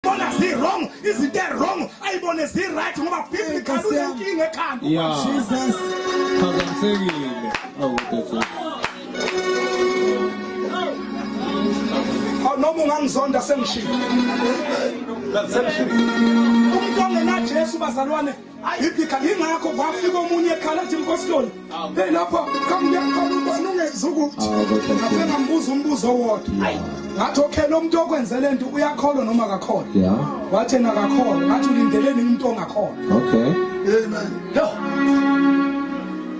bona zi wrong izinto e wrong ayibone zi right ngoba biblical unenkinga ekhanda Jesus phazamisekile awu Jesus noma ungangizonda sengishilo sengishilo umuntu ongenajesu bazalwane Ibhikhala yingakho kwafika omunye ekhala athi mkositoli hey lapha kamnyakhona ubani ungezukuthi ngafe ngambuza umbuzo owodwa ngathi okay lo muntu okwenzele nto uyakholwa noma akakholwa yeah wathi yena akakholwa ngathi ulindeleni umuntu ongakholwa okay amen no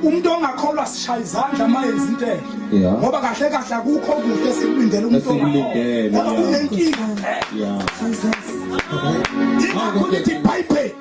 umuntu ongakholwa sishaya izandla uma yenza into enhle ngoba kahle kahle akukho kuhle esikulindele umuntu ongakholwa kunenkinga yeah ingakho lithi bible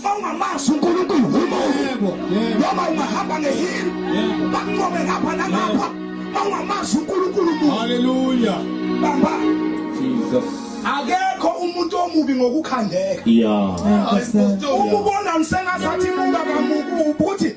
mawungamazi uNkulunkulu umuntu noma ungahamba ngehili bakunqobe ngapha nangapha mawungamazi uNkulunkulu umuntu haleluya bamba Jesus akekho umuntu omubi ngokukhandeka yeah uma ubona msengazathi muka kamuku ubuthi